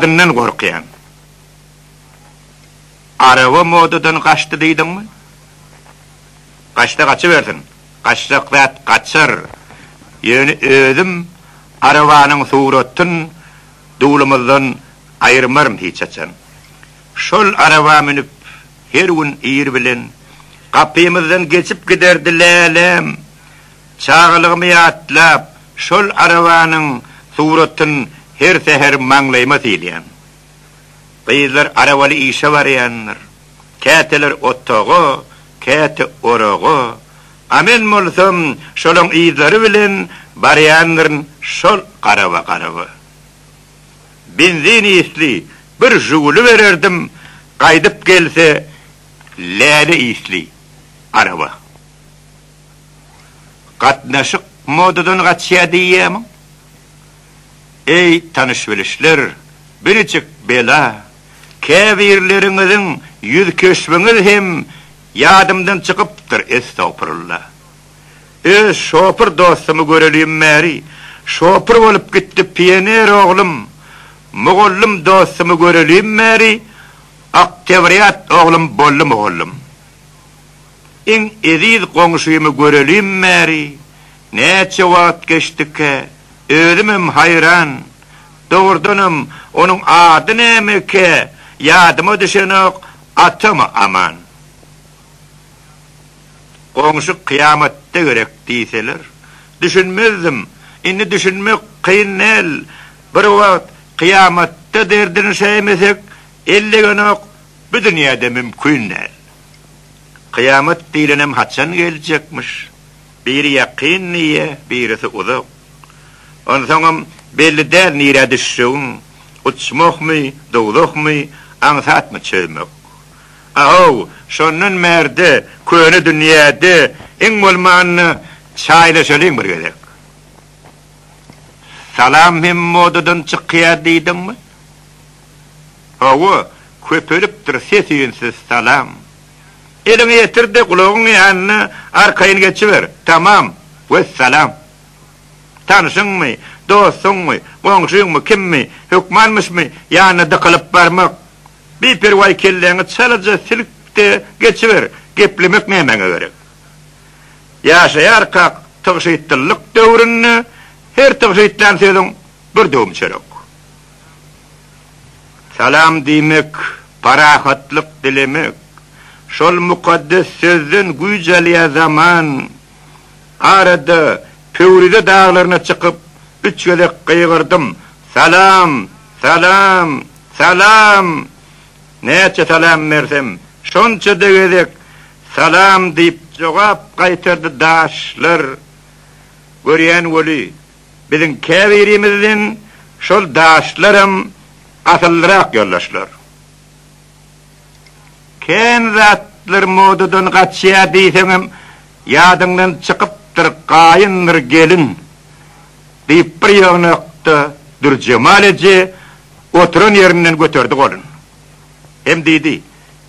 Adyndan gorkýan. Araba modadan gaçdy diýdiňmi? Gaçsa gaçybersin. Gaçjak zat gaçar. Ýöne özüm arabanyň suratyn duwlumyzdan aýyrmaryn hiç haçan. Şol araba münüp her gün ir bilen gapymyzdan geçip giderdi Läläm. Çagalygymy ýatlap, şol arabanyň suratyn her säher maňlaýyma sylýan. Gyzlar arabaly işe barýandyr. Käteler otaga, käte oraga. A men bolsam şolaň yzlary bilen barýandyryn şol garaba-garaba. Benzin isli bir Žuguli bererdim, gaýdyp gelse läle isli araba. Gatnaşyk modadan gaçýar diýýämiň? Eý, tanyş-bilişler, birjik bela, käbirleriňiziň ýüz keşbiňiz hem ýadymdan çykypdyr, estagpurulla. Öz şopur dostumy görelim bäri, şopur bolup gitdi pioner oglum, mugallym dostumy görelim bäri, oktýabrýat oglum boldy mugallym. Iň eziz goňşymy görelim bäri näçe wagt geçdikä? Özümem haýran. Dogrudanam, onuň ady nämekä? Ýadyma düşenok, atamy Aman. Goňşy kyýamatda gerek diýseler, düşünmezdim. Indi düşünmek kyn däl. Bir wagt kyýamatda derdini şäýmesek, ellegenok, bu dünýäde mümkin däl. Kyýamat diýlenem haçan geljekmiş? Biri ýakyn diýýä, birisi uzak. Onsoňam belli däl nirä düşjegiň, uçmakmy, dowzahmy, aňsatmy çözmek. A-how, şondan bärde köne dünýäde iň bolmanda çaýlaşalyň bir gezek. Salam hem modadan çykýar diýdiňmi? Hawa, köpelipdir sesiňsiz salam. Eliňi ýetir-de gulagyň ýanyna arkaýyn geçiber. Tamam. Wessalam. Tanşyňmy, dostuňmy, goňşyňmy, kimmi, hökmanmyşmy ýanyna dykylyp barmak. Biperwaý kelläňi çalaja silk-de geçiber, geplemek nämäňe gerek. Ýaşaýarkak tygşytlylyk döwründe her tygşytlän sözüň bir döwüm çörek. Salam diýmek, parahatlyk dilemek. Şol mukaddes sözden güýç alýar zaman. Arada Pöwrize daglaryna çykyp, üç gezek gygyrdym, Salam! Salam! Salam! Näçe salam bersem, şonça-da gezek Salam diýip jogap gaýtardy daşlar. Görýän weli. Biziň käbirimizden şol daşlaram asyllyrak ýoldaşlar. Kän zatlar modadan gaçýar diýseňem ýadyňdan çykypdyr gaýyndyr gelin, diýip bir ýygnakda Dürjemal eje oturan ýerinden göterdi golun. Hem diýdi,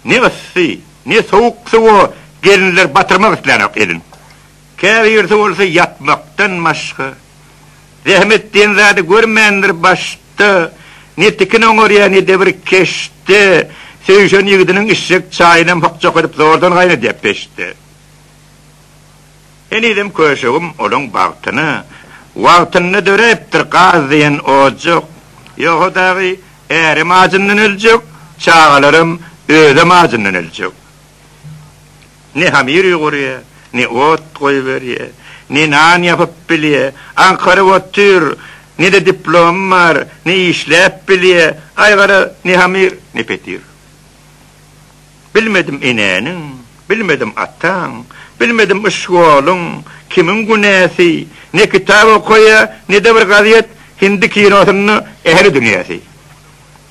Ne yssy, ne sowuk suwa gelinler batyrmak islänok elin. Käbirisi bolsa ýatmakdan başga zähmet diýen zady görmändir, başda ne tikin oňarýar, ne-de bir keşde söýşen ýigidiniň içjek çaýynam hokjak edip zordan gaýnadýar peçde. Henizem köşegim olaň bagtyna wagtynda döräpdir, gaz diýen ojak, ýogsa dagy ärem ajyndan öljek, çagalaram özem ajyndan öljek. Ne hamyr ýugurýar, ne ot goýberýär, ne nan ýapyp bilýär. Aňkaryp otyr. Ne-de diplomy bar, ne işläp bilýär. Aý, gara, ne hamyr, ne petir. Bilmedim enäniň, bilmedim ataň, bilmedim iş ýoluň, kimiň günäsi. Ne kitap okaýar, ne-de bir gazet, hindi kinosynda ähli dünýäsi.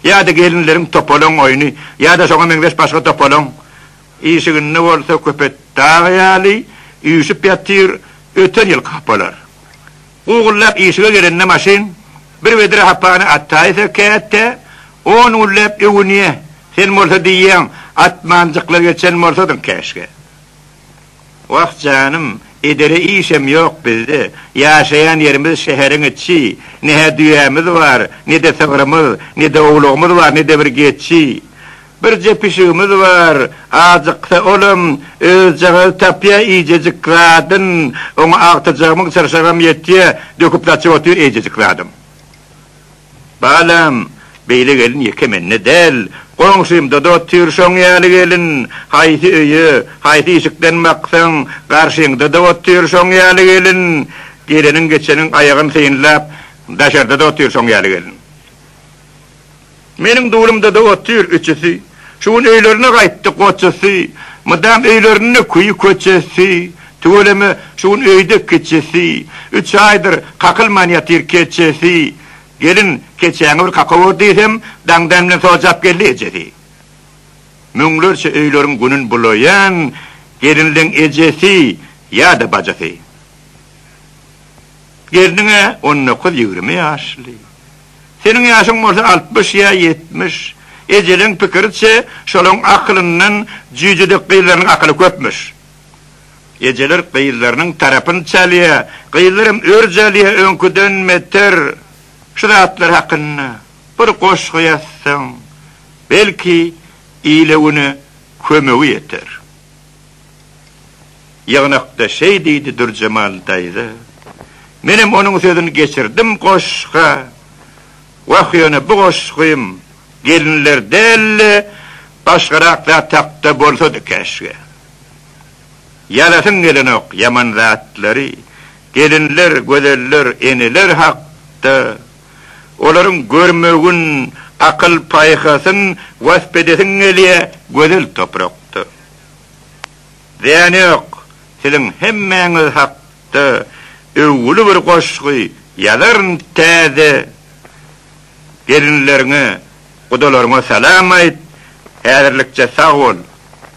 Ýa-da gelinleriň topalaň oýny, ýa-da şoňa meňzeş başga topalaň Işiginde bolsa köpet dag ýaly üýşüp ýatyr, öten ýylky hapalar. Gugullap işige gelende maşyn, bir vedra hapany ataýsa käte, on günläp öwünýä, sen bolsa diýýäň, atmanjykla geçen bolsadyň käşgä. Wah janym, edere işem ýok bizde. Ýaşaýan ýerimiz şäheriň içi. Ne-hä düýämiz bar, ne-de sygrymyz, ne-de owlagymyz bar, ne-de bir geçi. Birje pişigimiz bar, ajyksa olam özjagazy tapýar iýjejik zadyn, oňa agtyjagymyň çyrşagam ýetýär, döküp-saçyp otyr eýjejik zadam. Balam, beýle gelin ýeke mende däl, goňşymda-da otyr şoň ýaly gelin. Haýsy öýe, haýsy işikden baksaň, garşyňda-da otyr şoň ýaly gelin. Geleniň-geçeniň aýagyn synlap, daşarda-da otyr şoň ýaly gelin. Meniň dulumda-da otyr üçüsi. Şu gün öýlerine gaýtdy goçasy, Mydam öýlerinde küýi-köçesi, Tüweleme şu gün öýde kiçisi, Üç aýdyr kakylman ýatyr keçesi. Gelin, keçäňi bir kaka gör diýsem, Daň-dan bilen sojap geldi ejesi. Müňlerçe öýleriň günün bulaýan Gelinleň ejesi ýa-da bajasy. Gelniň-ä on dokuz-ýigrimi ýaşly. Seniň ýaşyň bolsa altmyş ýa ýetmiş. Ejeleň pikiriçe, şolaň akylyndan jüýjedek gyzlarynyň akyly köpmüş. Ejeler gyzlarynyň tarapyny çalýa, gyzlaram örj alýa öňküden beter. Şu zatlar hakynda bir goşgy ýazsaň, belki, ile-güne kömegi ýeter. Ýygnakda şeý diýdi Dürjemal daýza. Menem onuň sözüni geçirdim goşga. Wah ýöne bu goşgym gelinler dälde başgarak zat hakda bolsady käşgä. Ýazasyň gelenok ýaman zatlary, gelinler, gözeller, eneler hakda. Olaryň görmegin, akyl-paýhasyn wasp edesiň gelýär, gözel toprakda. Zyýany ýok, siziň hemmäňiz hakda öwgüli bir goşgy ýazaryn Täze gelinleriňe, gudalaryňa salam aýt, häzirlikçe sag bol,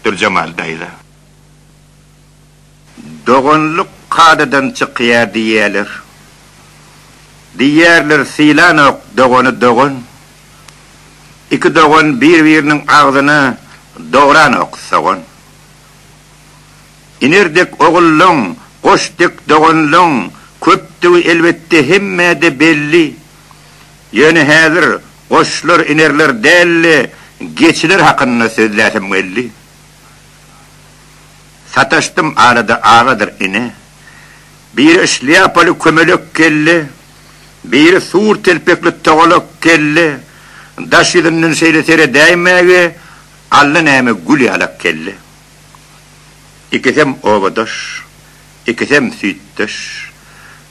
Dürjemal daýza. Doganlyk kadadan çykýar diýýärler. Diýýärler sylanok dogany dogan. Iki dogan bir-biriniň agzyna dogranok sogan. Iner dek ogullaň, goş dek doganlaň köpdügi elbetde hemmäde belli. Ýöne häzir goşlar, inerler däl-de, geçiler hakynda sözläsem geldi. Sataşdym arada agadyr ine. Biri şlýapaly kömelek geldi, biri sur telpekli togalak geldi, daş ýüzünden şeýle seredäýmäge allanäme gül ýalak geldi. Ikisem obadaş, ikisem süýtdeş.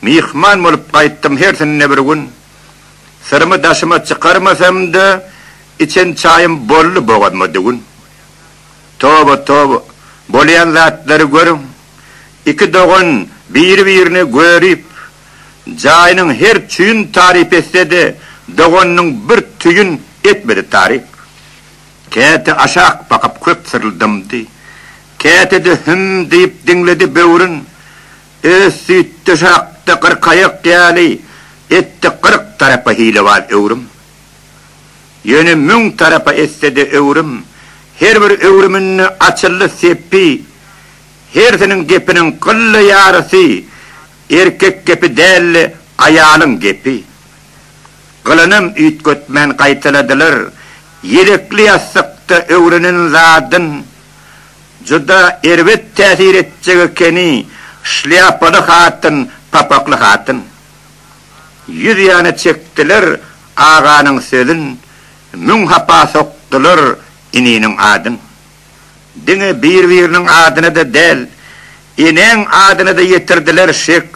Myhman bolup gaýtdym hersinde bir gün. Syrymy daşyma çykarmasam-da, içen çaýym boldy bogazma düwün. Toba toba, bolýan zatlary görüň. Iki dogan biri-birini görüp, jaýynyň her çüýün taryp etse-de, doganynyň bir tüýün etmedi taryp. Käte aşak bakyp köp syryldamdy. Käte-de hüm diýip diňledi böwrün. Öz süýtdeşi hakda gyrkaýak ýaly etdi gyrk tarapa hilebaz öwrüm. Ýöne müň tarapa etse-de öwrüm, her bir öwrüminde açyldy sepbi, hersiniň gepiniň gylla ýarysy erkek gepi däldi, aýalyň gepi. Gylanam üýtgetmän gaýtaladylar, ýelekli ýassykda öwrenen zadyn juda erbet täsir etjek ekeni, şlýapaly hatyn, papakly hatyn. Ýüz ýana çekdiler aganyň sözün, Müň hapa sokdular ininiň adyn. Diňe bir-biriniň adyna-da däl, Enäň adyna-da ýetirdiler şek.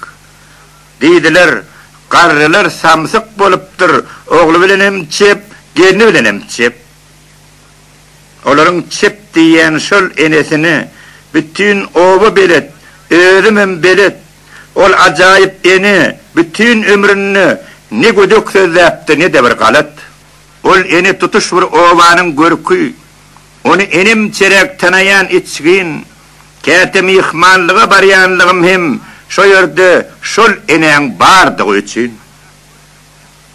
Diýdiler, Garrylar samsyk bolupdyr, Ogly bilenem çep, gelni bilenem çep. Olaryň çep diýýän şol enesini Bütin oba belet, özümem belet. Ol ajaýyp ene bütin ömründe ne gödek sözläpdi, ne-de bir galat. Ol ene tutuş bir obanyň görki. Ony enemçeräk tanaýan içgin. Käte myhmanlyga barýanlygym hem şo ýerde şol enäň bardygy üçin.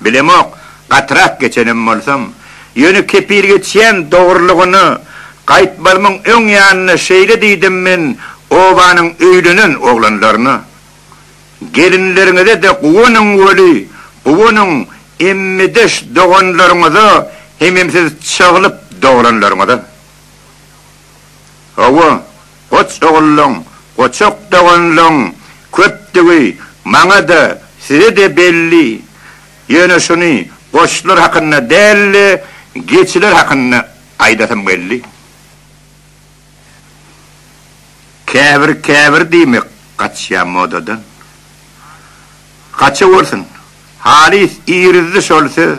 Bilemok, gatyrak geçenem bolsam. Ýöne kepil geçýän dogrulygyna gaýtmazmyň öň ýanyna şeýle diýdim men obanyň öýlenen oglanlaryna, Gelinleriňize-de guwanyň weli, guwanyň emmideş doganlaryňyza hemem siz çaglyp doglanlaryňyza. Hawa, goç ogullyň, goçak doganlygyň köpdügi maňa-da, size-de belli. Ýöne şuny goçlar hakynda däl-de, geçiler hakynda aýdasym geldi. Käbir-käbir diýmek gaçýar modadan. Gaçawersin, halys irizdi şol söz.